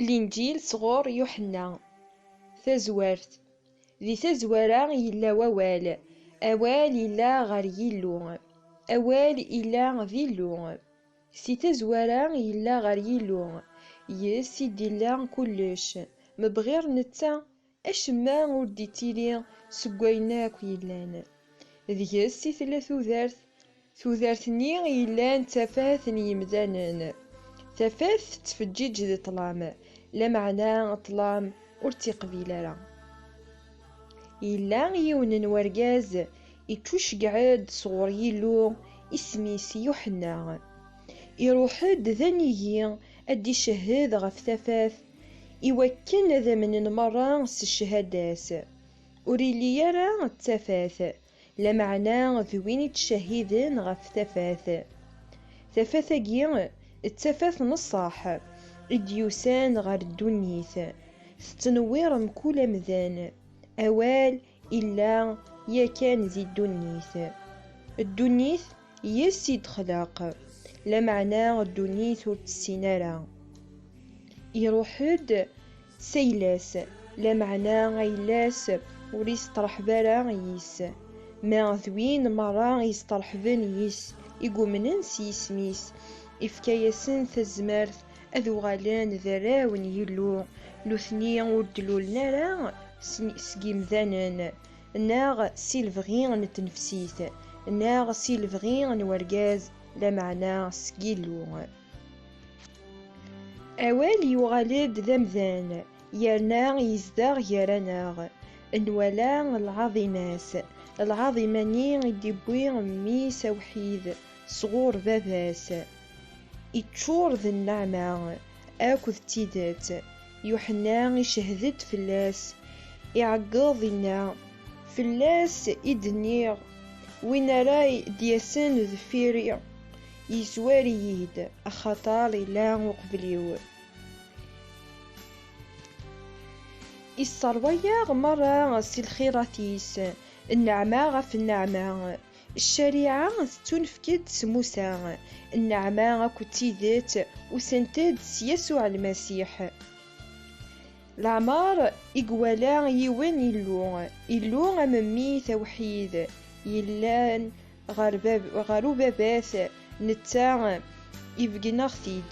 Linǧil sɣur Yuḥenna, Tazwart Di tazwara yella wawal, awal yella ɣer Yillu, awal ila d Illu. Si tazwara yella ɣer Yillu, yes i d-illa kullec, mebɣir netta Acemma ur d-ittili seg wayen akk yellan. Deg-s i tella tudert, tudert-nni i yellan d tafat n yimdanen. Tafat tettfeǧǧiǧ di ṭṭlam, lameɛna ṭṭlam ur tt-iqbil ara. Yella yiwen n wergaz iččuceggeɛ-d sɣur Yillu, isem-is Yuḥenna. Iruḥ-d d anigi ad d-icehhed ɣef tafat, I wakken ad amnen merra s cchada-s, ur illi ara d tafat, lameɛna d win ittcahhiden ɣef tafat. Tafat-agi d tafat n ṣṣeḥ i d-yusan ɣer ddunit, tettnewwir mkul amdan, awal Illa yakan di ddunit. Ddunit yes i d-xlaq, lameɛna ddunit ur tessin ara. Iruḥ-d s ayla-s, lameɛna ayla-s ur isteṛḥeb ara yis. Ma d win meṛṛa isteṛḥben yis, i yumnen s yisem-is, ifka-yasen tazmert ad uɣalen d arraw n Yillu, nutni ur d-lulen ara seg yimdanen, neɣ si lebɣi n tnefsit, neɣ si lebɣi n urgaz, lameɛna seg Yillu. Awal yuɣal-d d amdan, yerna yezdeɣ gar-aneɣ, nwala lɛaḍima-s, lɛaḍima-nni i d-iwwi Mmi-s awḥid sɣur Baba-s. Iččur d nneɛma akked tidet. Yuḥenna icehhed-d fell-as, iɛeggeḍ, inna, Fell-as i d-nniɣ, Win ara d-yasen deffir-i, yezwar-iyi-d, axaṭer illa uqbel-iw. Isseṛwa-yaɣ meṛṛa si lxirat-is, nneɛma ɣef nneɛma. Ccariɛa tettunefk-d s Musa, nneɛma akked tidet usent-d s Yasuɛ Lmasiḥ. Leɛmeṛ i iwala yiwen Illu, Illu am Mmi-is awḥid, yellan ɣer Ubabat, netta ibeggen-aɣ-t-id.